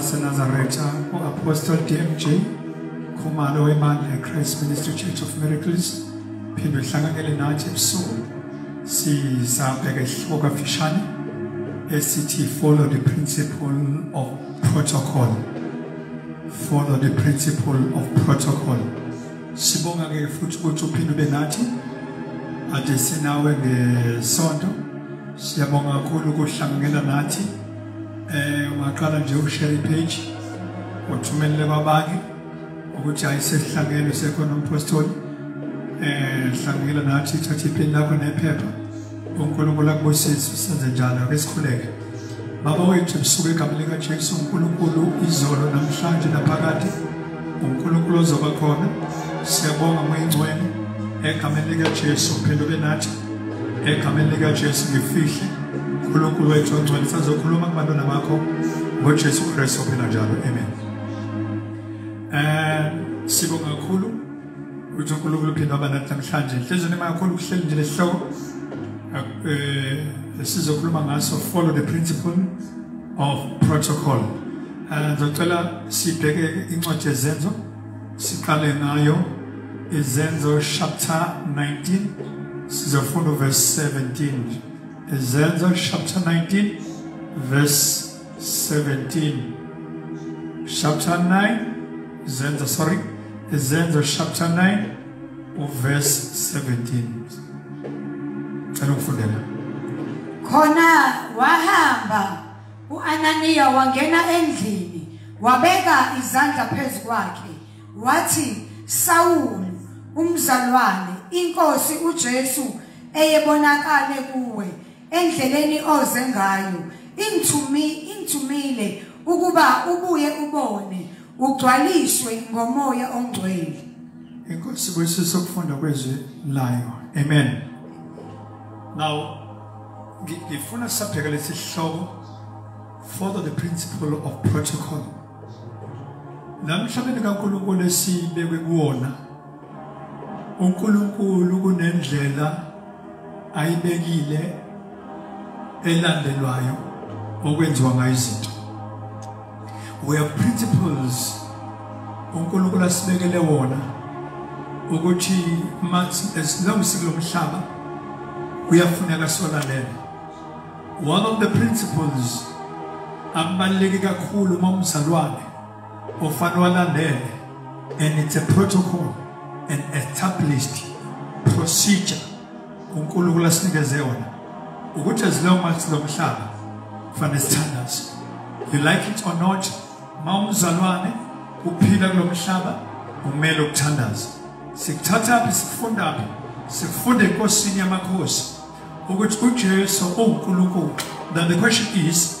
waseNazaretha u-Apostle DMJ Khumalo webandla iChrist Ministry Church of Miracles phinde uhlanganyele nathi ebusuku sizabheka isihloko kafishane esithi follow the principle of protocol follow the principle of protocol sibonga ke futhi ukuthi uphinde ube nathi ade sinawe ngesonto siyabonga kakhulu ukuhlanganyela nathi eh ungaqala nje ushare page uthumelele kwabanye ukuthi ayisesihlangene sekhona umpostoli eh hlanganyela nathi thatha iphini lakho nephepha unkulunkulu akubusise usenze njalo ake sikhuleke baba wethu lisuke igama likajesu unkulunkulu izolo namhlanje naphakade unkulunkulu ozoba khona siyabonga moyingcwele egameni likajesu uphenduke nathi egameni likajesu ngifihle unkulunkulu wethu ongcwele sazokhuluma kubantwana bakho ngojesu kristu ophila njalo amen um sibonga kakhulu ukuthi uNkulunkulu uphinde waba nathi namhlanje inhlizweni ema kakhulu ukuhleli nje lesihloko um sizokhuluma ngaso follow the principle of protocol um ngizocela sibheke incwadi yezenzo siqale ngayo izenzo chapter 19 sizofunda uverse 17 izenzo chapter 19 verse 17 chapter 9 izenzo sorry izenzo chapter 9 uverse 17 cela ukufundela khona wahamba uananiya wangena endlini wabeka izandla phezu kwakhe wathi sawulu umzalwane inkosi ujesu eyebonakale kuwe endleleni oze ngayo ingithumi ingithumile ukuba ubuye ubone ugcwaliswe ngomoya ongcwele inkosi kuyisiso ukufunda kwezwi layo amen now ngifuna sabheka lesihloko follow the principle of protocol namhlabeni kaNkulunkulu esibekwe kuwona uNkulunkulu kunendlela ayibekile elandelwayo okwenziwa ngayo izinto we have principles uNkulunkulu asibekele wona ukuthi mathi as long sikulomhlaba kuyafuneka solalele one of the principles abaluleke kakhulu uma umzalwane Ufana walandele and it's a protocol and established procedure uNkulunkulu asinikeze yona ukuthi as long as lo mhlaba fanele sithandaze you like it or not mawumzalwane uphila kulo mhlaba umele ukuthandaza sikuthatha phi sikufunda phi sikufunda enkosini yamakhosi ukuthi uJesu uNkulunkulu now the question is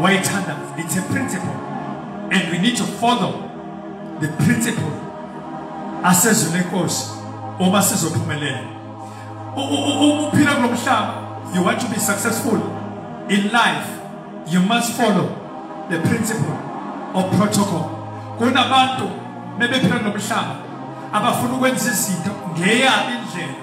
wayethanda it's a principle and we need to follow the principle asezwe lenkosi uma sizophumelela ukuphila kulo mhlaba you want to be successful in life you must follow the principle of protocol kunabantu bebephila nomhlaba abafuna ukwenza izinto ngeyani indlela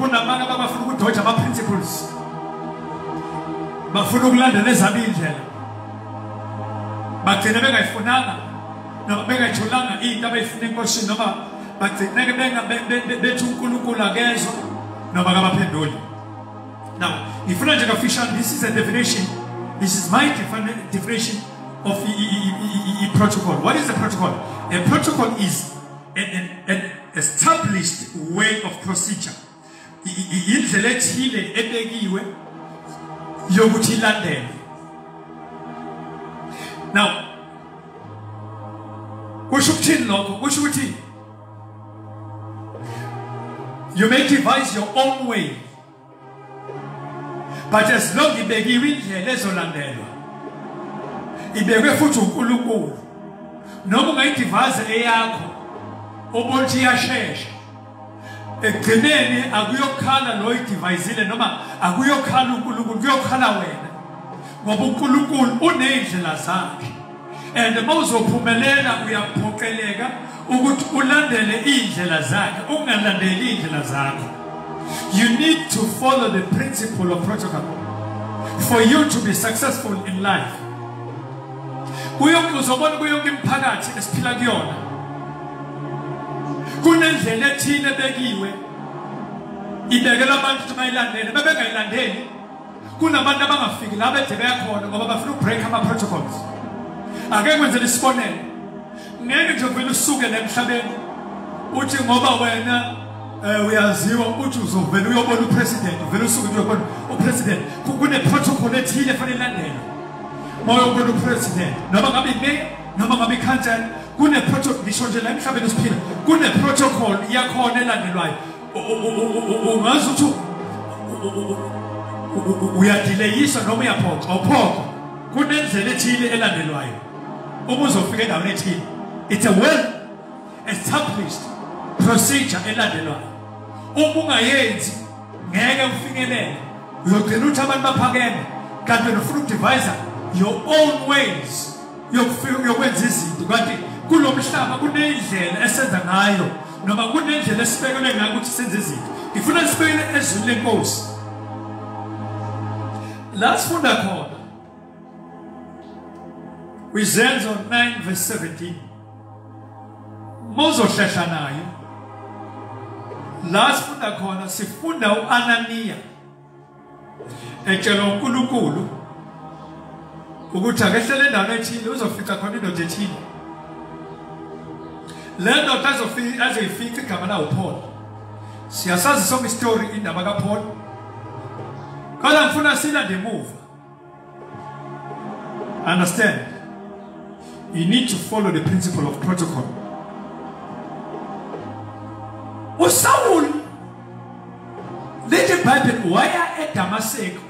kunamanye abafuna ukudoja ama-principles bafuna ukulandela ezabo iy'ndlela bagcine bengayifunanga noma bengayitholanga into abayifuna enkosini noma bagcineke bethi unkulunkulu akezwa noma kabaphenduli now ngifuna nje kafishane this is a definition this is my definition of the protocol what is the protocol a protocol is an, an, an established way of procedure indlela ethile ebekiwe yokuthi ilandele now kusho ukuthini lokho kusho ukuthi you may devise your own way but as long ibekiwe indlela ezolandelwa ibekwe futhi uNkulunkulu noma ungayidivaze eyakho ubonthi iyashesha ekugcineni akuyokhala lo idivayizile noma akuyokhala uNkulunkulu kuyokhala wena ngoba uNkulunkulu unezindlela zakhe and uma uzophumelela uyaphoqeleka ukuthi ulandele iy'ndlela zakhe ungalandeli iy'ndlela zakho you need to follow the principle of protocol for you to be successful in life uzobona kuyo yonke imiphakathi esiphila kuyona kunendlela ethile ebekiwe ibekelwa abantu ukuthi bayilandele bebengayilandeli kunabantu abangafiki la bede beyakhona ngoba bafuna ukubreak ama-protocols ake kwenzela isibonelo ngeke nje vele usuke la emhlabeni uthi ngoba wena um uyaziwa uthi uzovele uyobona upresident uvele usuke nje uyobona upresident kune-protocol ethile efanele ilandelwe uma uyobona upresident noma ngabe imeya noma ngabe ikhansela kune-protocol ngisho nje la emhlabeni esiphila kune-protocol yakhona elandelwayo ungazi ukuthi uyadileyiswa noma uyaphoxa uphoxa kunendlela ethile elandelwayo uma uzofika endaweni ethile it's a well established procedure elandelwayo uma ungayenzi ngeke ufikelele uyogcina ukuthi abantu baphakeme kanti wena ufuna ukudivisa your own ways yokufika yokwenza izinto kanti kulo mhlaba kunendlela esenza ngayo noma kunendlela esibekelwe ngayo ukuthi senze izinto ngifuna sibekele ezwini lenkosi la sifunda khona kwizenzo 9 verse 17 mozohlehla nayo la sifunda khona sifunda uananiya etshelwa uNkulunkulu ukuthi akehlele endaweni ethile uzofica khona indoda ethile le ndoda azoyifica igama lawo Paul siyasazi sonke istory indaba kaPaul kodwa ngifuna silande emuva Understand? You need to follow the principle of protocol. USawuli lithi iBhayibheli waya eDamaseko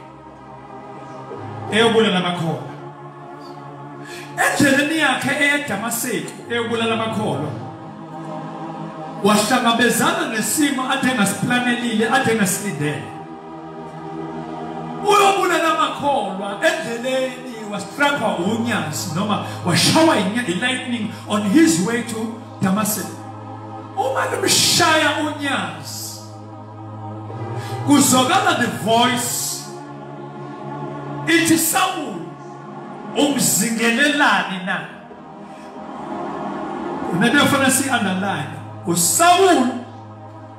eyobulala amakholwa. Endleleni yakhe eyeDamaseko eyobulala amakholwa wahlangabezana nesimo athe ngasilindele uyobulala amakholwa endleleni wastrapha unyazi noma washawa i-lightning on his way to damascus uma limshaya unyazi kuzokala the voice ithi sawulu umzingelelani na nento efanele si-underline usawulu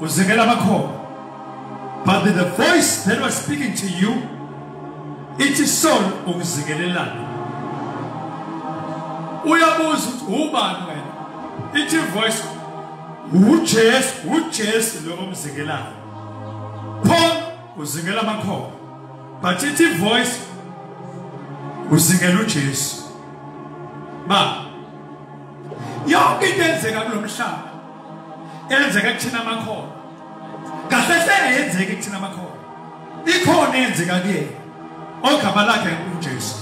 uzekela abakhona but the voice that was speaking to you ithi son ukuzikelelana uyabuza ukuthi ubani wena ithi voice uJesu uJesu lo omzikelayo Paul uzingela amakhoba but ithi voice uzingela uJesu ba yonke into enzeka kulomhlaba enzeka kuthina amakhono kahle hlele yenzeka kuthina amakhono ikhona eyenzeka kuyena ogama lakhe uJesu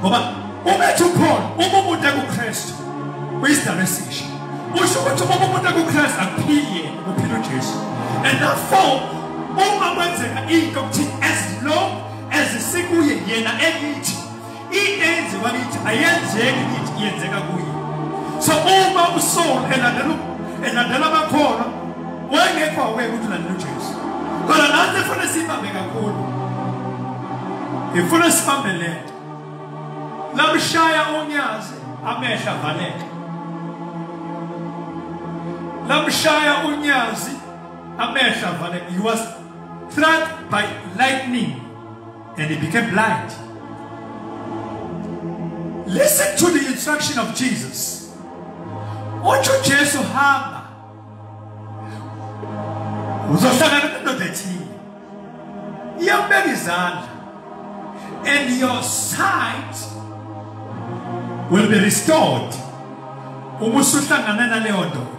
ngoba uma ethi ukhona uma umuntu ekuKristu uyisidalwa esisha usho ukuthi uma umuntu ekuKristu akuphili yena uphila uJesu and therefore uma kwenzeka into kuthi as long as sikuye yena elithi into eyenziwa kithi ayenzeki kithi iyenzeka kuye so uma usoul elandela elandela abakhona wayengekho aweke ukuthi ulandela ujesu kodwa nathi efuna sibambe kakhulu ngifuna sibambe le nto lamshaya unyazi amehla valeka lamshaya unyazi amehla valeka he was struck by lightning and he became blind. Listen to the instruction of Jesus. Utsho Jesu hamba. Uzohlangana nendoda ethile. Iyakubeka izandla. And your sight will be restored. Uma usuhlangana naleyo ndoda.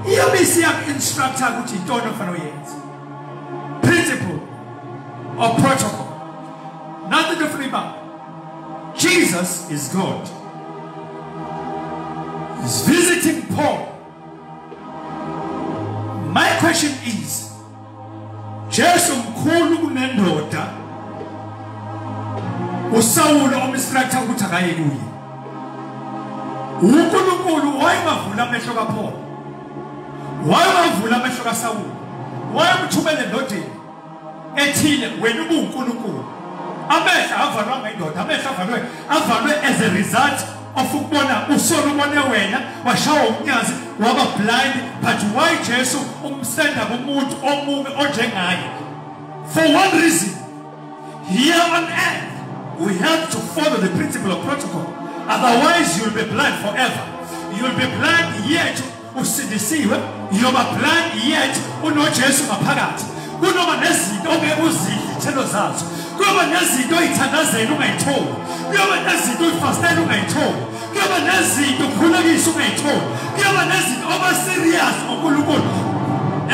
Iyobe isiyaku-instructor ukuthi intoni ofanele uyenze. principle or protocol. Nothing to flip up. Jesus is God. He's visiting Paul. My question is, Jesu mkhulu kunendoda uSawulu omstrata ukuthi akaye kuye. UNkulunkulu wayebavula amehlo kaPaul. wayewavula amehlo kasawule wayemthumele endodeni ethile wena ubuwunkulunkulu amehlo avalwanga indoda amehlo avalwe avalwe as a result of ukubona usolo ubone wena washawa umnyazi waba blind but why jesu umsenda kumuntu omubi onjengaye for one reason Here on earth, we have to follow the principle of protocol. Otherwise, you'll be blind forever. You'll be blind yet usindisiwe. You'll be blind yet unoJesu ngaphakathi. Kunoba nezinto ongeke uzidle izithelo zazo. Kuyoba nezinto oyithandazela ungayitholi. Kuyoba nezinto oyifastela ungayitholi. kuyaba nezinto kukhulekisa ungayitholi kuyaba nezinto oba serious ngonkulunkulu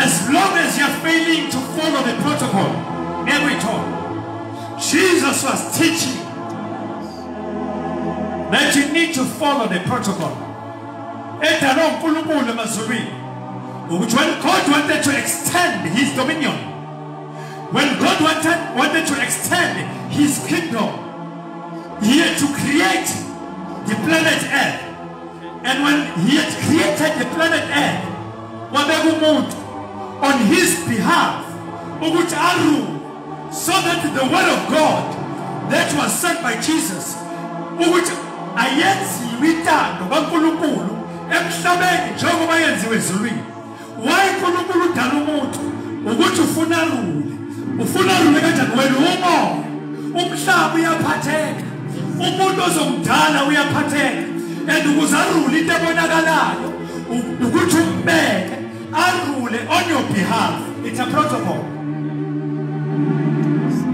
as long as you're failing to follow the protocol ngeke uyithole jesus was teaching that you need to follow the protocol edalwa unkulunkulu emazulwini ukuthi when god wanted to extend his dominion when god wanted, wanted to extend his kingdom He had to create the planet Earth. And when he had created the planet Earth, wabeka umuntu on his behalf ukuthi arule so that the word of God that was sent by Jesus ukuthi ayenziwe intando kaNkulunkulu emhlabeni njengoba yenziwe ezulwini Why uNkulunkulu udala umuntu ukuthi ufuna lule. Ufuna lule kanjani wena umo? Umhlaba uyaphatheka. Umuntu ozomdala uyaphatheka. And ukuze arule into ebonakalayo ukuthi umbeke arule on your behalf. It's a protocol.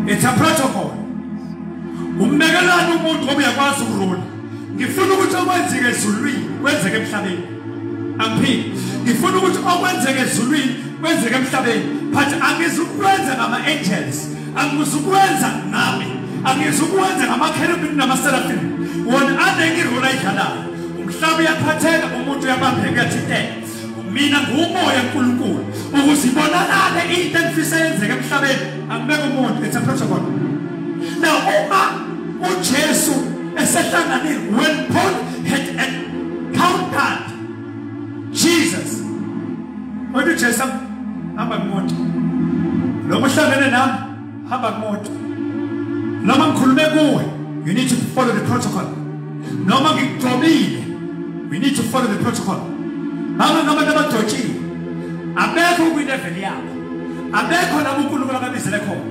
It's a protocol. Umbekelani umuntu ngoba uyakwazi ukurula. ngifuna ukuthi okwenzeke ezulwini kwenzeke emhlabeni angiphiki ngifuna ukuthi okwenzeke ezulwini kwenzeke emhlabeni but angizukwenza ngama-angels angizukwenza nami angizukwenza ngamakherubini namaserafini wona anengi irole ayidlalayo umhlaba uyaphatheka umuntu uyabambeka uyathinteka mina ngumoya nkulunkulu ukuze ibonakale into engifisa yenzeka emhlabeni angibeke umuntu it's a protocol now uma ujesu esehlangane when paul had encountered jesus wathi ujesu hamba kumuntu lo muhlangene nami hamba kumuntu noma ngikhulume kuwe you need to follow the protocol noma ngigcobile we need to follow the protocol baba noma nabadotshile abekho kwi-level yabo abekho labo unkulunkulu ababizele khona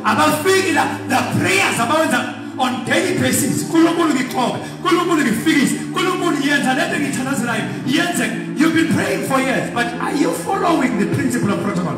abafiki la the prayers abawenza on daily basis unkulunkulu ngixobe unkulunkulu ngifikise unkulunkulu yenza lento engithandazelayo yenzeke you've been praying for years but are you following the principle of protocol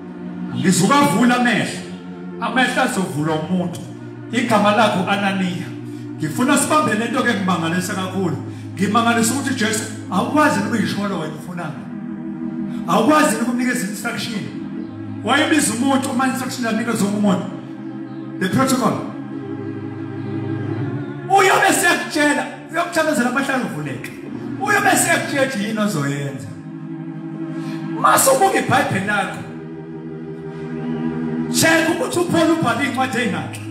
ngizubavula amehlo amehlo azovulwa umuntu igama lakho ananiya ngifuna sibambe le nto ke ngimangalisa kakhulu ngimangalisa ukuthi jesu awukwazi ukuyisholo wena ufunana awukwazi ukumnikeza instruction wayebiza umuntu uma instruction anikeza umuntu the protocol uyobe sekutshela uyokuthakazela amahlanu uvuleke uyobe sekutshetshe yini ozoyenza mase ubuka ibhayibheli lakho sheka ukuthi uphole ubhale iy'ncwadi ey'ngakhi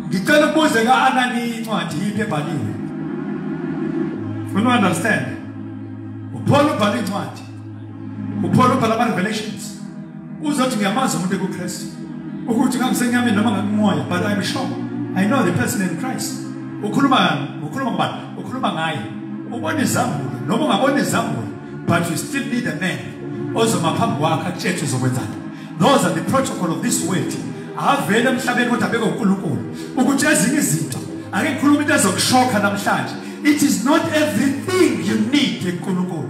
ngicela ukubuze ka-anani incwadi yiphi ebhaliwe unu-understand uphole ubhale iy'ncwadi uPaul ubhala ama revelations uzothi ngiyamazi umuntu ekuKristu ukuthi ngangisenyameni noma ngakumoya but I'm sure I know the person in Christ ukhuluma ukhuluma ngubani ukhuluma ngaye ubona izambulo noma ungabona izambulo but you still need a man ozoma phambi kwakhe akutshetshe uzokwenzani those are the protocol of this world avele emhlabeni kodwa beke uNkulunkulu ukuthi ezinye izinto ake ngikhuluma into ezokushokha namhlanje it is not everything you need eNkulunkulu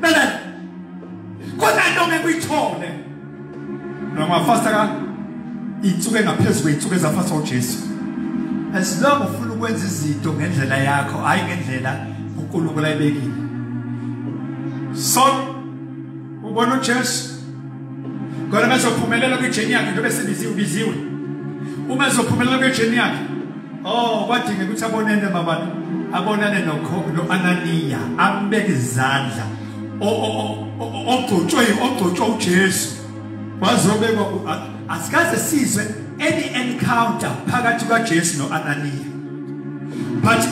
Bele. Khona into ngekuyithole. Noma fasta ka itsuke ngaphezulu itsuke zafasa uJesu. As long ufuna ukwenza izinto ngendlela yakho, hayi ngendlela uNkulunkulu ayibekile. So ubona uJesu kodwa bezophumelela kwijeni yakhe njengoba sebiziwe biziwe uma ezophumelela kwijeni yakhe Oh kwadinga ukuthi abonene babantu abonane nokhokho noAnaniya ambeke izandla ogcotshwe ogcotshwe uJesu wazobekwa asikaze sizwe any encounter phakathi kwaJesu noAnaniya but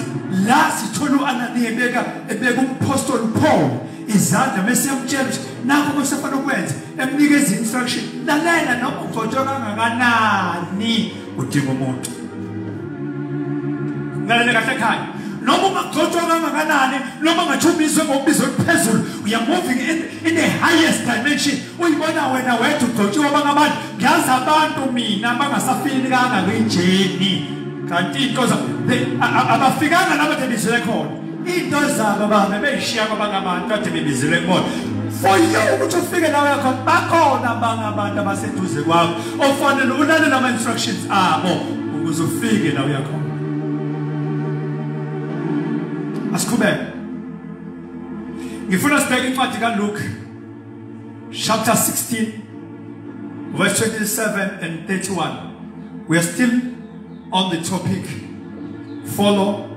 la sithola uAnaniya ebeka ebeka umpostoli Paul izandla bese yamtshela ukuthi nakho kusefanele ukwenza emnikeza instruction lalela noma ugcotshwe kangakanani udinga umuntu ngalele kahle ekhaya noma ungagcotshwa kangakanani noma ungathumiswe ngokubiza oluphezulu uya moving in, in the highest dimension uyibona wena wethu ugcotshiwe abanye abantu ngiyazi abantu mina bangasafini kanga kuyinjeni kanti into abafikanga laba nje bizele khona into zabo bahambe beyishiya kwabanye abantu kade bebizile kubona for you ukuthi ufike la yakho bakhona abanye abantu abaseduze kwakho ofanele ulalele ama-instructions abo ukuze ufike la uyakho asiqhubeke ngifuna sibheke incwadi kaluke chapter 16 verse 27 and 31 we are still on the topic follow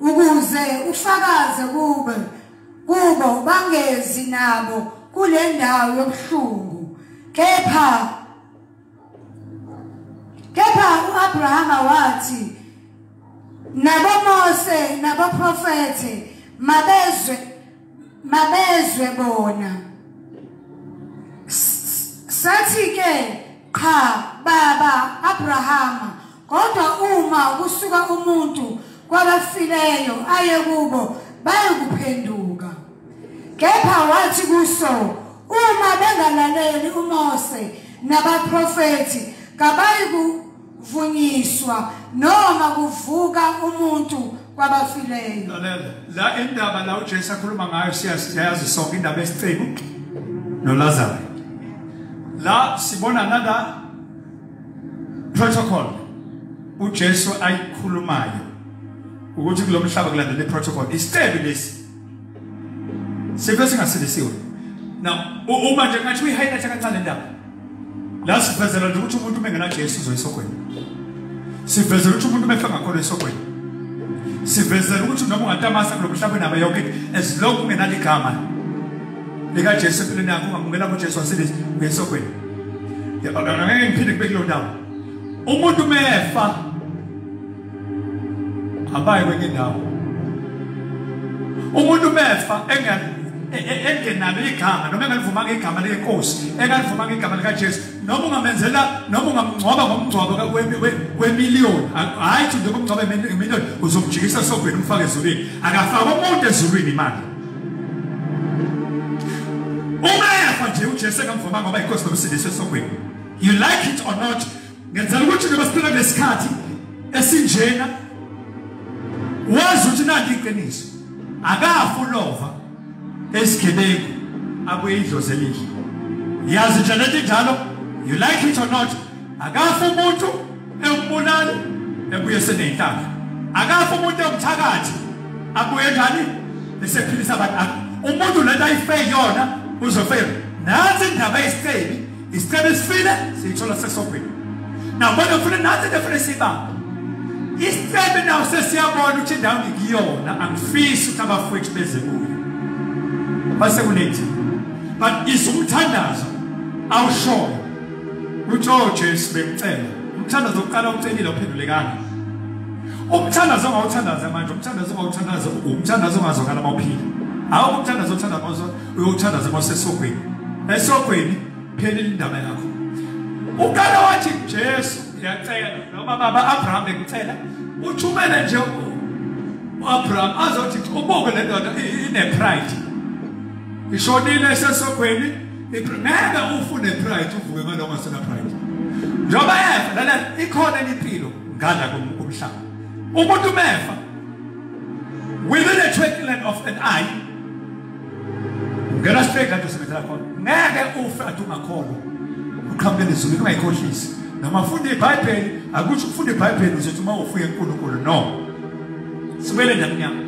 ukuze ufakaze kube kubo bangezi nabo kule ndawo yobuhlungu kepha kepha uAbrahama wathi naboMose naboprofete mabezwe mabezwe bona sathi ke cha baba Abrahama kodwa uma kusuka umuntu kwabafileyo aye kubo bayokuphenduka kepha wathi kuso uma bengalaleli uMose nabaprofeti kabayiku vunyiswa noma kuvuka umuntu kwabafileyo lalela la indaba la uJesu akhuluma ngayo siyazi sonke indaba esicebo noLazaro la sibona nala protocol uJesu ayikhulumayo ukuthi kulomhlaba kulandela iprotocol isicebo lesi Sive singasilisiwe. Now uma nje ngathi uyihighlight kancane indaba. La sivezela nje ukuthi umuntu mengena Jesu uzoyisogwini. Sivezela ukuthi umuntu mefa ngakhona isogwini. Sivezela ukuthi noma ungatamasa kulomhlaba naba yonke as long ungenali igama lika Jesu empilweni yakho ungamukela kuJesu wasilisa uyesogwini. Yabona ngeke ngiphinde kube kulo ndawo. Umuntu mefa abayi kwenye indawo umuntu mefa e, e, engenalo igama noma engalivumanga igama lenkosi engalivumanga igama likajesu noma ungamenzela noma ungamngcwaba ngomngcwabo wemiliyoni hhayi thi njengoba umngcwaba imiliyoni uzomjikisa esogwini umfake ezulwini akafake umuntu ezulwini imali uma efa nje ujesu engamvumanga ngoba inkosi nomsindisi esogwini you like it or not ngenzela ukuthi noma siphila ngesikhathi esinjena wazi ukuthi nanti iqiniso akafu lova esigebengu abuye idlozi elihle yazi nje lento injalo you like it or not akafu umuntu ewumbulali ebuye senenhlaka akafu umuntu ewumthakathi abuye njani esephilisa abantu umuntu lento ayifeyona uzofeyona nansi indaba yesicebi Isicelo esifile siyithola sesobhini. Now bona ufuna nathi defune sibamba. Isicelo nawo sesiyabona ukuthi indawo ngikuyona angifisi ukuthi abafowethu beze kuyo. Base kunethi. But isumthandazo awushoyo. Utho oh, Jesu bemcela. Umthandazo oqala ucelile ophendulekanga. Umthandazo ongawuthandaza manje, umthandazo ongawuthandaza, umthandazo ongazokala mawuphila. Awukuthandaza uthandaza uyothandaza kwasesogwini esogwini phela indaba yakho uqala wathi Jesu ngiyacela noma baba Abraham ngicela uthumele nje uAbraham azothi ubuke le ndoda ine pride ishonile esesogwini ngeke ufune pride uvuke ngaloko ngasena pride njengoba efa lana ikhona impilo ngala kumhlaba umuntu mefa within a twinkling of an eye ungena straight kanti usebenzela khona ngeke ufe athi ungakholwa uqhamuke nezulu ungayikhohlisi noma funda ibhayibheli akusho ukufunda ibhayibheli uzothi uma ufuye unkulunkulu no sibele ndamnyama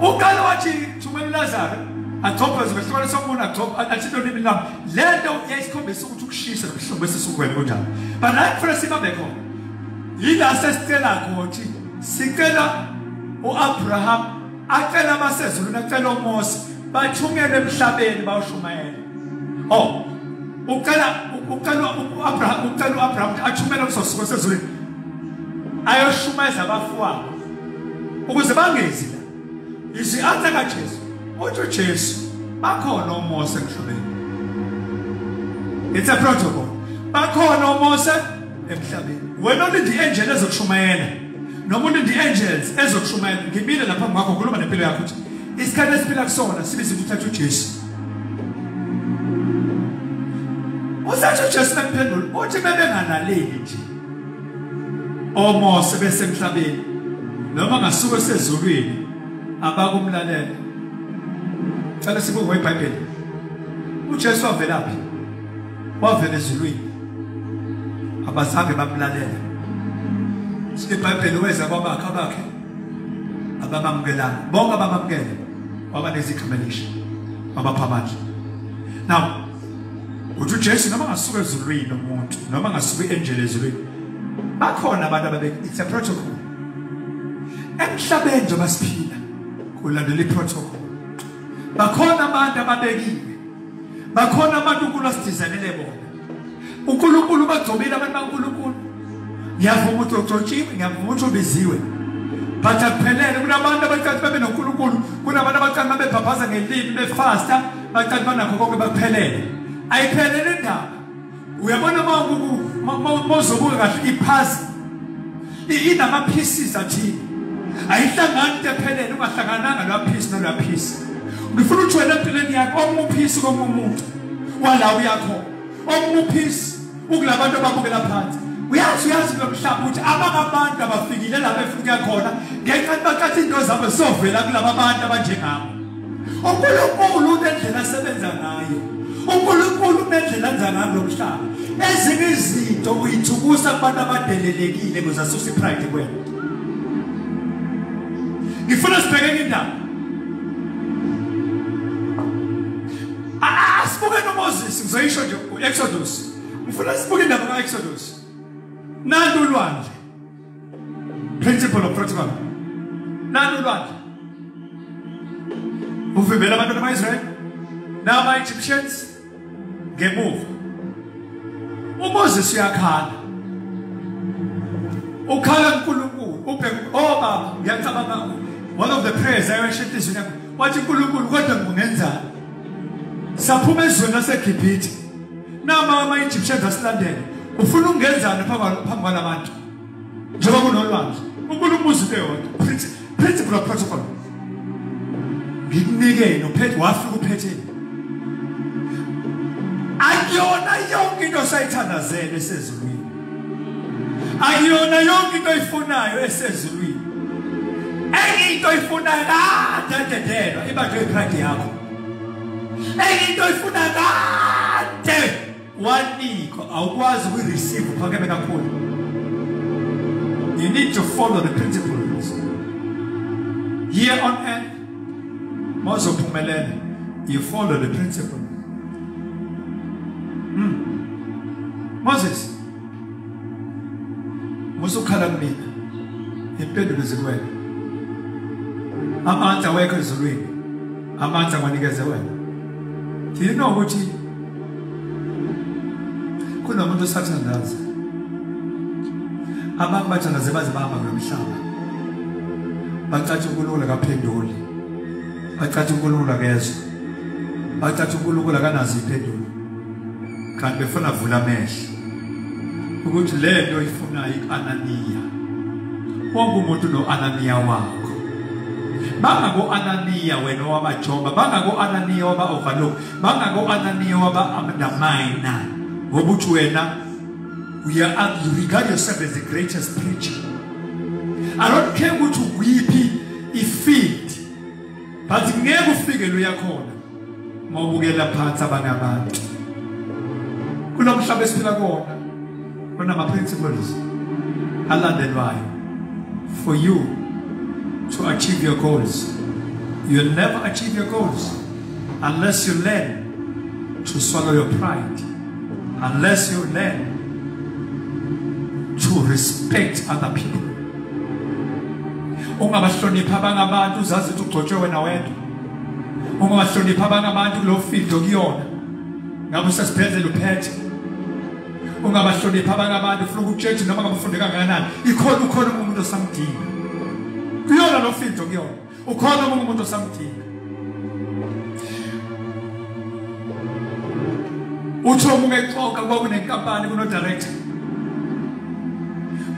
uqale wathi thumela ulazaro agcobhe zibesihlole somuntu agcobhe athi into nini lapho le nto yayisikhombisa ukuthi ukushisa nobuhlungu besisukweni kunjalo but hayi kufanele sibabe khona yila sesicela ukuthi sicela uabraham acela abasezulwini acela omose bathungele emhlabeni bawushumayela oh ucela ucela uAbraham ucela uAbraham athumele umsosuko sezulwini ayoshumayeza abafowabo ukuze bangezi la izwi athe kaJesu uthi uJesu bakhona omose emhlabeni it's a protocol bakhona omose emhlabeni wena olindi angel ezokushumayela noma ulindi angels ezokushumayela ngimile lapha ngakho khuluma nempilo yakho ukuthi isikhathi esiphila kusona sibiza ukuthi uthathe uJesu usathi uJesu emphendula uthi bebengalaleli nje omose besemhlabeni noma ngasuke sezulwini abakumlalela cela sibuke iBhayibheli uJesu wavelaphi wavela ezulwini abazange bamlalele sinebhayibheli weza kwabakhe abakhe ababamukelanga bonke ababamukele wabanezikhamelisha babapha amandla now uthi ujesu noma ngasuka ezulwini umuntu noma ngasuka i-angel ezulwini bakhona abantu ababe it's a protocol emhlabeni njengoba siphila kulandela i-protocol bakhona abantu ababekile bakhona abantu uNkulunkulu asidizanele bona uNkulunkulu bagcobile abantu baNkulunkulu ngiyavuma ukuthi ugcotshiwe ngiyavuma ukuthi ubiziwe but akuphelele kunabantu abacathi babe noNkulunkulu kunabantu abacathi babebhabhaza ngelimi befasta bacathi banakho konke bakuphelele ayiphelele indaba uyabona mawuzobuka kahle iphazi inama-pieces athile ayihlangani into ephelele ungahlangananga lowa phisi nolwa phisi ngifuna ukuthi wena empilweni yakho omunye uphisi komunye umuntu wala uyakho omunye uphisi ukula bantu ababukela phansi uyazi uyazi kulo mhlaba ukuthi abangabantu abafikile lapha efuna ukuya khona ngenxa yokuthi baqatha into zabo sovela kulaba bantu abanjengabo uNkulunkulu unendlela asebenza ngayo uNkulunkulu unendlela enza ngayo lomhlaba ezinye izinto uyithukusa kubantu abadelelekile kuze asuse ipride kwena ngifuna sibheke indaba asibuke noMoses ngizoyisho nje uExodus ngifuna sibuke indaba kaExodus nantu ulwandle principle of protocol nani ulwandle uvimbela abantwana ama-israyeli nama-egyptians ngemuva umoses uyakhala ukhala kunkulunkulu ubheke obaba oh, ngiyacabanga one of the prayers ayosho enhliziyweni yakho wathi unkulunkulu kodwa nginenzani saphuma ezweni lasegibhithe nama ama-egyptians asilandele ufuna ukungenzani phambi kwala bantu njengoba kunolwandle ukubona umuzi into yodwa principle of protocol ngikunikeni uphethe wafika uphetheni akuyona yonke into osayithandazele esezulwini akuyona yonke into oyifunayo esezulwini enye into oyifunayo kade adedelwa ibanjwe ipride yakho enye into ifuna kade wanikwa awukwazi ukuyireceive uphakeme kakhulu you need to follow the principles here on earth mawuzophumelela you follow the principle mm. moses musukhala kumina impendulo zikwena amandla wekho ezulwini amandla kwanikeze wena thina ukuthi kunomuntu osathandaza abantu bathandaze baze bahamba kulo mhlaba bacatshe unkulunkulu akaphenduli bacatshe unkulunkulu akezwa bacatshe unkulunkulu akanazo impendulo kanti befuna avula amehlo ukuthi le nto ifunayo i-ananiya wonke umuntu uno-ananiya wakho bangako-ananiya wena wabajoba bangako-ananiya waba-overlook bangako-ananiya waba-undermina ngoba uthi wena you regard yourself as the greatest preacher i don't care ukuthi ukwiphi ifield but ngeke ufike lo yakhona mawubukela phansi abanye abantu kulo mhlaba esiphila kona kunama principles alandelwayo for you to achieve your goals you'll never achieve your goals unless you learn to swallow your pride Unless you learn to respect other people. Ungabahlonipha abangabantu uzazi ukuthi ugcotshwe wena wedwa. Ungabahlonipha abangabantu kulo field okuyona. Ngabe usesibhedlela uphethe. Ungabahlonipha abangabantu ufuna ukutshetsha noma ngabafunde kangakanani. Ikhona ukhona umuntu osamdinga. Kuyona lo field okuyona. ukhona omunye umuntu osamdinga uthi omunye exoka kwakunenkampani kunodirector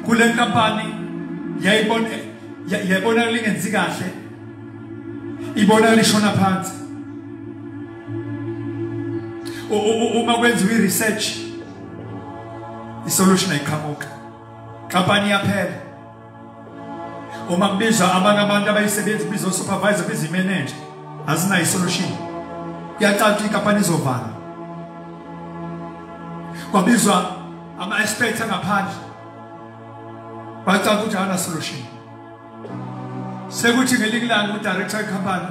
kule nkampani yayibona yayibona lingenzi kahle ibona lishona phansi uma kwenziwa i-research isolution ayiqhamuka nkampani iyaphela uma kubizwa abanye abantu abayisebenzi kubizwa supervisor kubizwa imanager azinayo isolution kuyacaca ukuthi inkampani izovala kwabizwa ama-experts angaphandle bacaca ukuthi akana solution sekuthi ngelinye ilanga udirector wecompany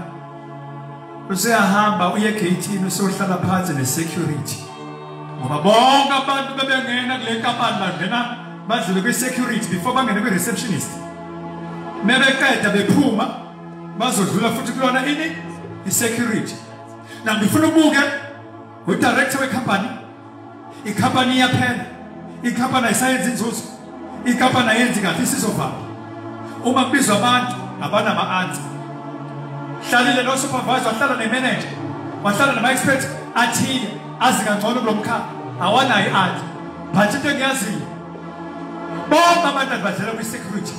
useyahamba uye egeyithini useyohlala phansi ne-security ngoba bonke abantu bebengena kule nkampani bangena badlule kwi-security before bangene kwi-receptionist mebeqeda bephuma bazodlula futhi kulona ini i-security na ngifuna ubuke udirector wecompany icompany iyaphela icompany ayisayenzi inzuzo icompany ayenzi kahle isizovala uma kubizwa abantu abanama-ansa hlalile lo supervisor wahlala nemanager wahlala nama-expert athile azi kangcono kulo mkhaya awanayo i-ansa but into engiyaziyo bonke abantu abadlala kwi-security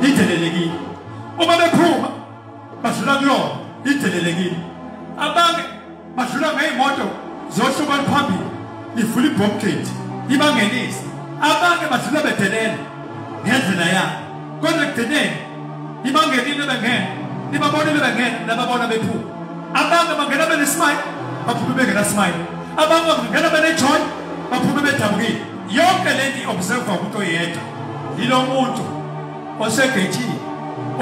idelelekile uma bephuma badlula kuyona idelelekile abanye badlula ngey'moto zohlobo oluphambili ivula ibhomgeti ibangenise abanye badlula bedelela ngendlela yabo kodwa ekugcineni ibangenile bengena ibabonile bengena nababona bephuma abanye bangena benesmile baphume bengenasmile abanye bangena benejoy baphume bedabukile yonke le nto i-observa umuntu oyedwa yilo muntu osegethini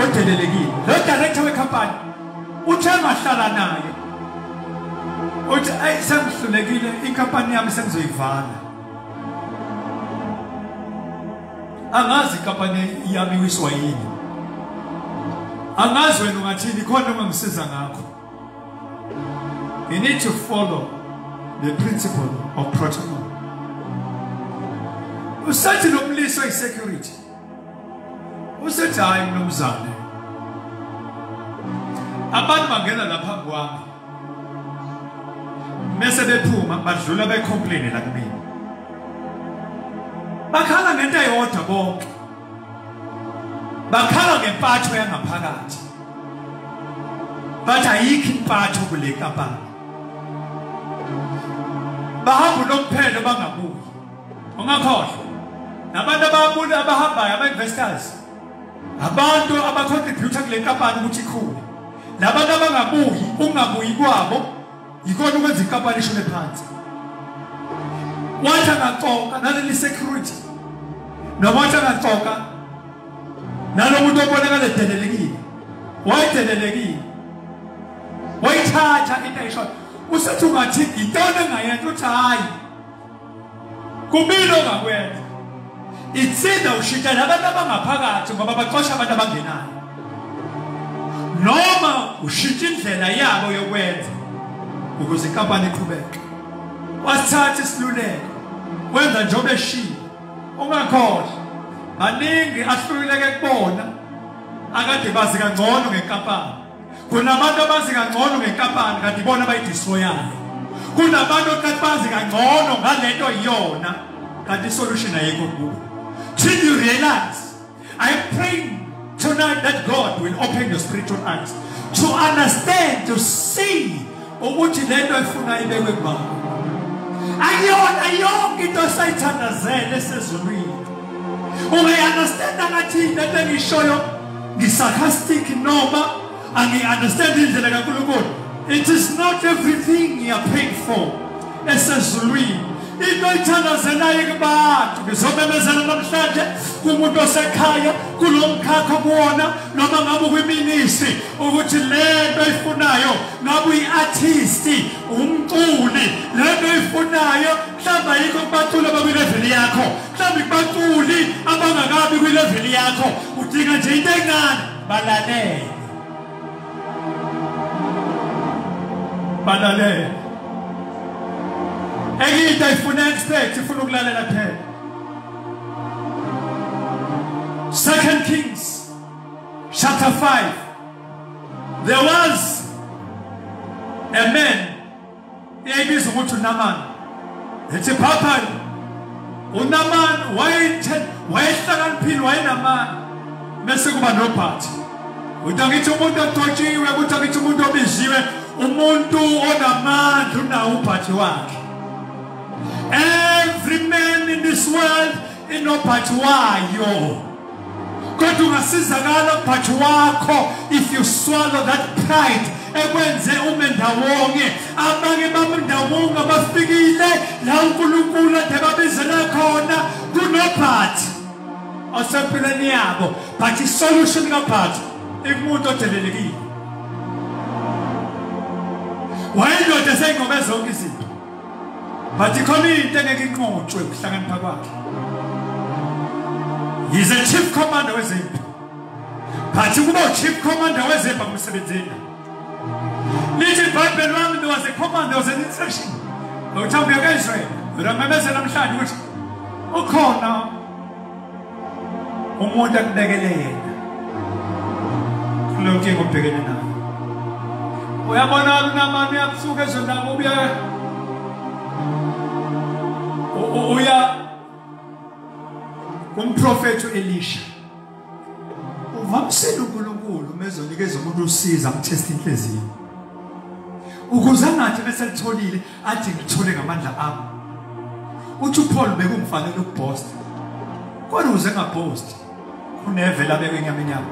odelelekile lo director wekhampani uthe ngahlala naye uthi ayi sengihlulekile inkampani yami sengizoyivala angazi ikampani yami wiswa yini angazi wena ungathini khona ongangisiza ngakho you need to follow the principle of protocol usathi lo mlisa i-security usethi hayi mnumzane abantu bangena lapha kwami mese bephuma badlula becomplain la kumina bakhala ngento eyodwa bonke bakhala ngempatho yangaphakathi bathi ayikho impatho kule kampani bahamba unomphelo bangabuyi ungakhohlwa nabantu ababuni abahambayo ama-investors abantu abacontributa kule nkampani ukuthi ikhule nabantu abangabuyi ukungabuyi kwabo yikona ukwenza inkampani ishone phansi wathi angacoka naleli security noma wathi angacoka nalo muntu obonakala edelelekile wayedelelekile wayithatha into ayishoyo usethi ungathi ngitona ngayenza uthi hhayi kubili ongakwenza itsinda ushintshana abantu abangaphakathi ngoba baxosha abantu abangenayo noma ushintsha indlela yabo yokwenza ukuze inkampani iqhubeke wasithatha isiluleko wenza njengoba eshilo ungakhohlwa baningi ahlululeke kubona akade bazi kangcono ngenkampani kunabantu abazi kangcono ngenkampani kanti ibona abayidistroyayo kunabantu oqathi bazi kangcono ngalento iyona kanti isolution ayikho kubo till you realize i am praying tonight that god will open your spiritual eyes to understand to see ukuthi lento efuna ibekwe kubaba akuyona yonke into esayithandazele esezulwini ungayi-understanda ngathi lento engishoyo ngisarcastic noma angi-understand indlela kankulunkulu it is not everything you are paid for esezulwini into oyithandazelayo kubantu ngizomemezela namhlanje kumuntu osekhaya kulo mkhakha kuwona noma ngabe ukwiminisi ukuthi le nto oyifunayo ngabe uyi-artisti umculi le nto oyifunayo mhlawumbe ayikho kubaculi abakwileveli yakho mhlawumbe kubaculi abangakabi kwileveli yakho udinga nje into encane balalele balalela enye into ayifuna expect ifuna ukulalela kuphela second kings chapter 5 there was a man eyayibiza ukuthi unamani ethi phaphani unamani wayehlakaniphile wayenamani mese kuba nobhathi ukuthi angithi umuntu odotshiwe ukuthi angithi umuntu obiziwe umuntu onamandla unawo ubhathi wakhe every man in this world inobhathi wayo kodwa ungasizakala ubhathi wakho if you swallow that pride ekwenze ume ndawonye abanye babendawonye abafikile la unkulunkulu ade babizela khona kunobhathi osempilweni yabo but isolution kabhathi ikumuntu odelelekile wayendoda seyingobe zonke izinto Bathi khona into engeke inqotshwe ukuhlakanipha kwakhe. He's a chief commander wezempi. Bathi kuba chief commander wezempi akumsebenzela. Lithi Bible lwami was a commander was an instruction. Ngokuthambi yakhe Israel. Uramemezela namhlanje ukuthi ukhona umuntu akubekele yena kulo nkinga obhekene nayo uyabona unamani uyabusuka ezweni lami ubuye uya kumprofethi u-elisha uvamisele unkulunkulu uma ezonikeza umuntu usiza amthesta inhliziyo ukuze angathi bese litholile athi ngithole ngamandla ami uthi uPaul bekumfanele ukupost kodwa uze ngapost uneve la beke inyama inyama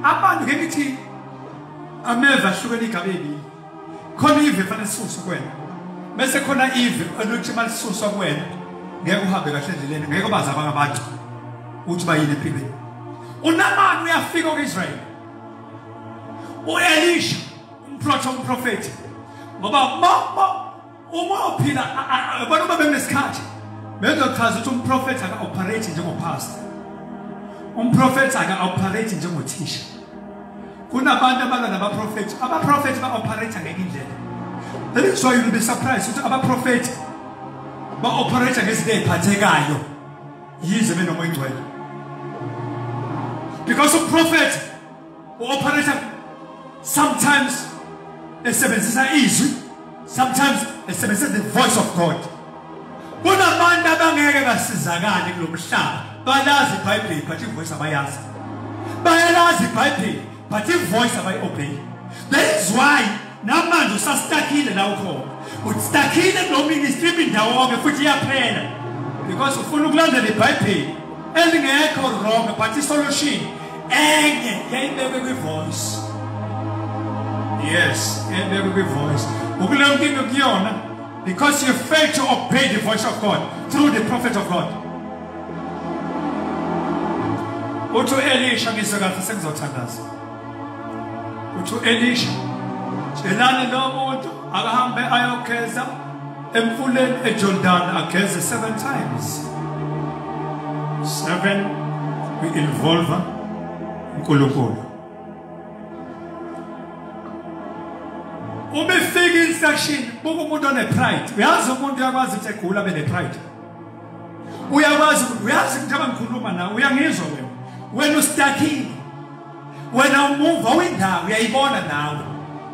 abantu ke ngithi ameva ahlukene igabe ebili khona ive fanele sisuswe kwena bese khona ive eluthi malisuswa kwena ngeke uhambe kahle endleleni ngeke ubazi abanye abantu uthi bayini empilweni unamani uyafika ku-israyeli uelisha umprofethi umprofethi ngoba mama uma uphila abantu uma bengesikhathi bezochaza ukuthi umprofethi aka-operate njengopastor umprofethi aka-operate njengothisha kunabantu abalwa nabaprofethi abaprofethi ba-operate ngenye indlela that is why you'll be surprised ukuthi abaprofethi ba-operate ngezinto ey'phathekayo yize benomoya ingcwele because umprofethi uoperator sometimes esebenzisa izwi sometimes esebenzisa the voice of god kunabantu abangeke basizakale kulo mhlaba balazi ibhayibheli but ivoice abayazi bayalazi ibhayibheli but ivoice abayi-obey that is why namanje usastakile la ukhona ustakile kulo ministry ibindawonke futhi iyaphela because ufuna ukulandela ibhayibheli elingekho wrong but isolution enye yayibekwe kwi-voice yes yayibekwe kwi-voice ukule nkinga kuyona because you fail to obey the voice of god through the prophet of god uthi u-elisha ngizwe kahle sengizothandaza uthi u-elisha tshelani lo muntu akahambe ayogeza emfuleni ejordani ageze seven times seven kwi-involva unkulunkulu uma ifika instruction buka umuntu one-pride uyazi umuntu uyakwazi ukuthi egula bene-pride uyakwazi uyazi ukuthi abangikhuluma nawe uyangizwa wena wena ustakile wena umuva windawo uyayibona nawe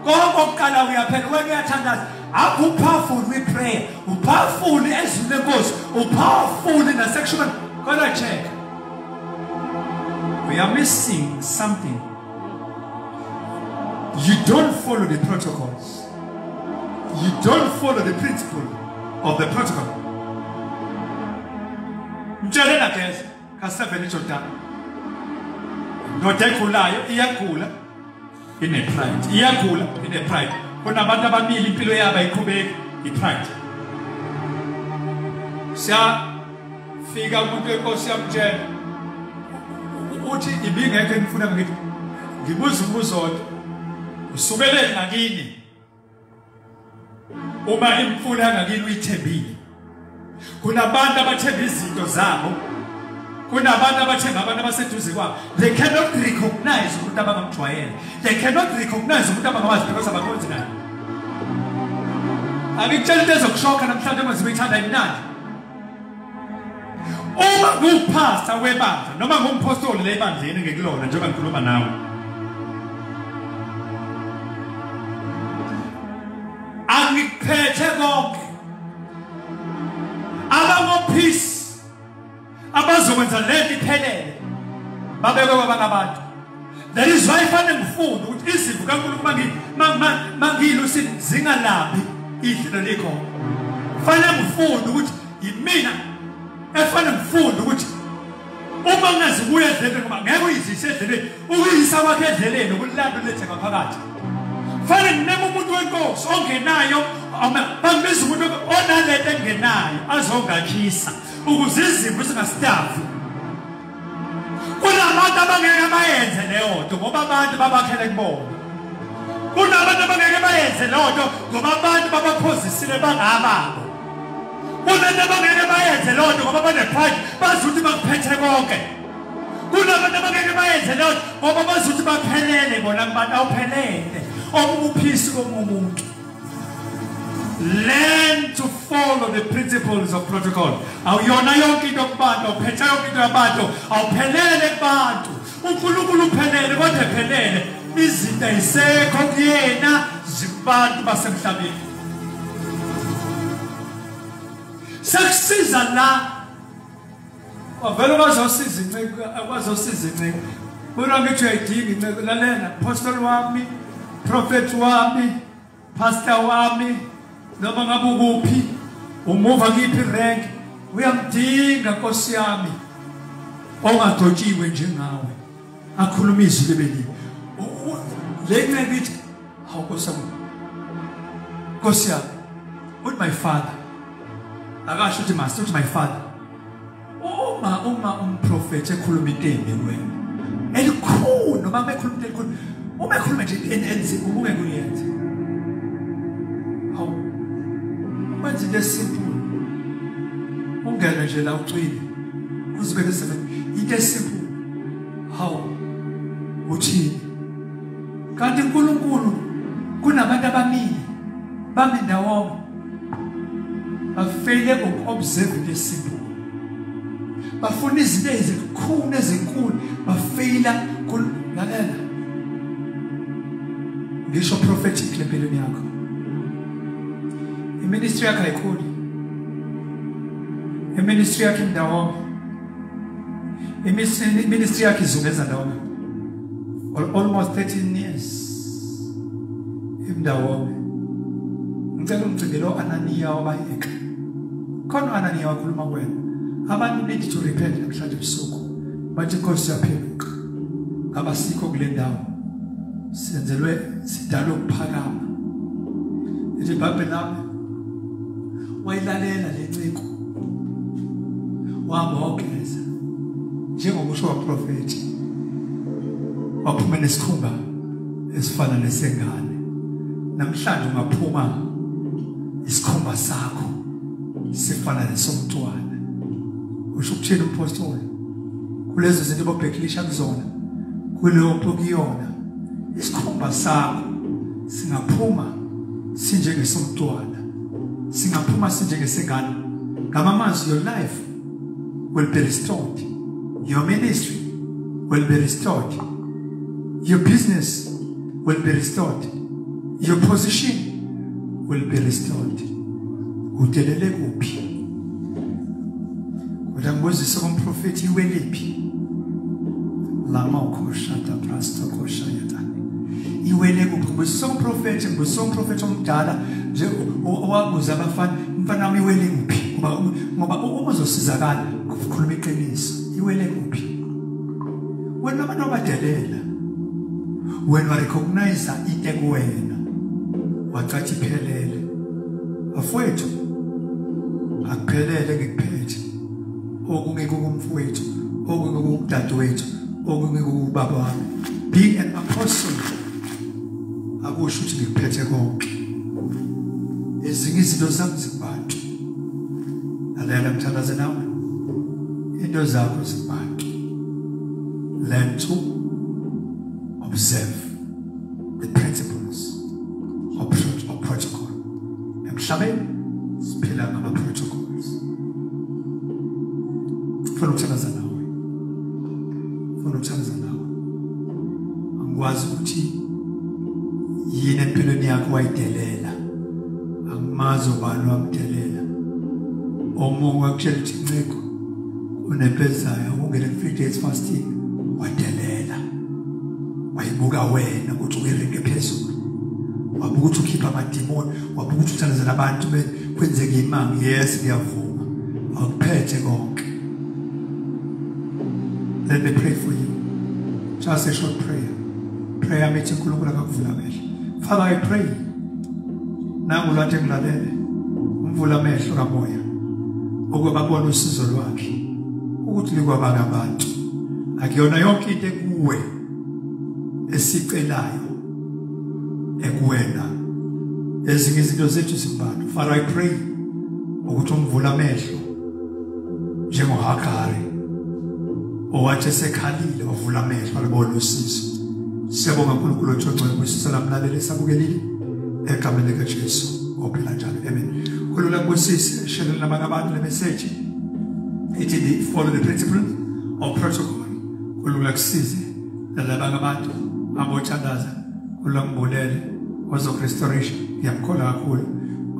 konke okuqala uyaphela wena uyathandaza akho upowerful kwiprayer upowerful ezwini lenkosi upowerful nasekushumeni kodwa check we are missing something you don't follow the protocols you don't follow the principle of the protocol mtshelena geza kaseveni jordani ndoda egulayo iyagula ine-pride iyagula ine-pride kunabantu ababili impilo yabo ayiqhubeki i-pride siyafika umuntu wenkosi yamtshela uthi ibingekho engifuna ngithi ngibuza umbuzo odwa usukeleni ngakini uma imfula ngakini uyithembile kunabantu abathemba izinto zabo kunabantu abathemba abantu abaseduze kwabo they cannot recognize umuntu abangamjwayele they cannot recognize umuntu abangamazi because abakhonzi naye angikutshela into ezokushoka namhlanje uma zibe ithanda imnandi uma ngiwuphasta webandla noma ngumphostoli lebandleni ngikulona njengoba ngikhuluma nawe angikuphethe konke ababophisi abazokwenza lento iphelele babekwe kwabanye abantu That is why fanele ngifunde ukuthi izimvu kaNkulunkulu mangiyilusi zingalaphi idlelo likho. Fanele ngifunde ukuthi yimina efanele ngifunde ukuthi uma ngingazibuya edleleni ngoba ngeke uyizise edleleni ukuyisa kwakhe edleleni ukulanda ulethe ngaphakathi fanele ngineme umuntu wenkosi ongenayo bangibiza umuntu onalento engenayo azongakhisa ukuze izimvu zingasidavi kunabantu abangeke bayenze leyo nto ngoba abantu babakhele kubona kunabantu abangeke bayenze leyo nto ngoba abantu babaphozisile bangababo kunento abangeke bayenze leyo nto ngoba banepride bazi ukuthi bakuphethe konke kunabantu abangeke bayenze leyo nto ngoba bazi ukuthi baphelele bona kubantu awuphelele okunguphisi komunye umuntu learn to follow the principles of protocol awuyona yonke into kubantu awuphetha yonke into yabantu awuphelele kubantu unkulunkulu uphelele kodwa ephelele izinto ayisekho kuyena zibantu basemhlabeni sekusiza la wavele wazosiza inceku wazosiza inceku bona ngithi uyayidinga inceku lalela apostoli wami profeti wami pasta wami noma ngabe ukuphi umuva kiphi rank uyamdinga nkosi yami ongadotshiwe njengawe akhuluma izwi lebeliwe le nceku ithi Hawu Nkosi yami. Nkosi yami. Uthi my father. Akasho uthi master uthi my father. Uma uma umprofeti ekhuluma into embi kuwena. Elikhulu noma bekhuluma into elikhulu. Uma ekhuluma nje enenzi ubuke kuyenza. Hawu. Manje lesimple. Ungena nje la ucwile. Uzibeke seven. Into esimple. Hawu. Uthini? kanti uNkulunkulu kunabantu abamile bami ndawonye bafeyile ngoku-observe into esimple bafuna izinto ezikhulu ezinkulu bafeyila lalela ngisho prophetic lempilweni yakho iministry yakho ayikhuli iministry yakho indawonye iministry yakho izungeza ndawonye for almost 13 years imndawonke ngicela umcimbi lo ananiya wabayeka khona ananiya wakhuluma kwena abantu need to repent namhlanje ebusuku bathi inkosi yaphenduka ngabasikho kule ndawo senzelwe sidalwe ukuphakama ithi ibhayibheli lami wayilalela le nciko wamogeza njengokusho kwaprofethi waphuma nesikhumba esifana nesengane namhlanje ungaphuma isikhumba sakho sifana nesomntwana usho ukuthini umpostoli kulezo zinto bobheklisha kuzona kuleyo kuyona isikhumba sakho singaphuma sinjengesomntwana singaphuma sinjengesengane ngamamazwi your life will be restored your ministry will be restored your business will be restored your position will be restored udelele kuphi Kodwa ngibuzise umprofethi iweliphi? Lama ukhosha ta prasto khosha yata. Iwele kuphi? Ngibuzise umprofethi, ngibuzise umprofethi omdala nje owabuza abafana, mfana wami iwele kuphi? Ngoba ngoba uma uzosizakala ukukhuluma iqiniso, iwele kuphi? Wena abantu abadelela. Wena recognize into ekuwena. Wacathi phelele. afwethu akuphelele ngikuphethe okunye kumfowethu okunye kumdadewethu okunye kubaba wami be an apostle akusho ukuthi ngikuphethe konke ezinye izinto zami zibantu lalela mthandaze nawe into zakho zibantu learn to observe with principles or, or protocol emhlabeni siphila ngama protocols funa ukuthandaza nawe funa ukuthandaza nawe angikwazi ukuthi yini empilweni yakho wayidelela angimazi ubani wamdelela omunye wakutshela ukuthi nciko unempezayo ukungena ku-free days fasting wayibuka wena ukuthi uyirenge phezulu wabuka ukuthi ukhipha amadimoni wabuka ukuthi uthandazela abantu kwenzeka imanga yes ngiyavuma awuphethe konke let me pray for you just a short prayer prayer methi unkulunkulu akakuvula amehlo father i pray nangu lwathi engilalele umvula amehlo kamoya ukuba babone usizo lwakhe ukuthi likwabanga abantu akuyona yonke into ekuwe esicelayo ekuwena ezinye izinto zethu zimbalwa father i pray ukuthi umvula amehlo njengohagari owathi esekhalile wavula amehlo alibona usizo siyabonga nkulunkulu othongcwele kwisisa lamlaleli esabukelile egameni likajesu ophila njalo amen kulula kubusisi esheleni labanye abantu lemeseji ithi they follow the principles of protocol kulula kusize nalabanye abantu abothandaza kulula ngibulele ozokurestoration ngiyamkhola kakhulu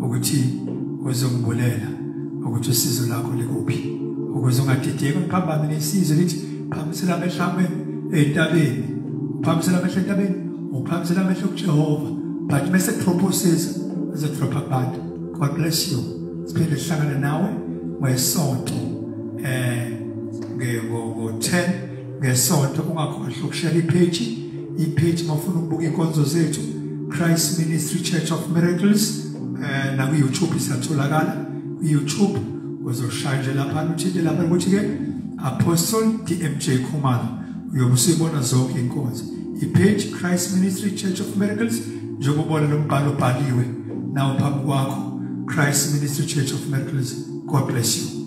ukuthi uzongibulela ukuthi usizo lakho likuphi ukuze ungadideki uphambane nesizwe lithi phakamisela amehlo ame entabeni uphakamisela amehlo entabeni uphakamisela amehlo kujehova but mese proposes as a proper part god bless you siphinde sihlangane nawe ngesonto eh ngo-10 ngesonto ungakhohlwa ukushela ipage ipage mafuna ukubuka inkonzo zethu Christ Ministry Church of Miracles eh na ku YouTube isatholakala ku YouTube uzoshaya nje lapha uthinte lapha ukuthi ke Apostle DMJ Khumalo uyobusibona zonke inkonzo ipage Christ Ministry Church of Miracles njengobona lombhalo obhaliwe nawo phambi kwakho Christ Ministry Church of Miracles God bless you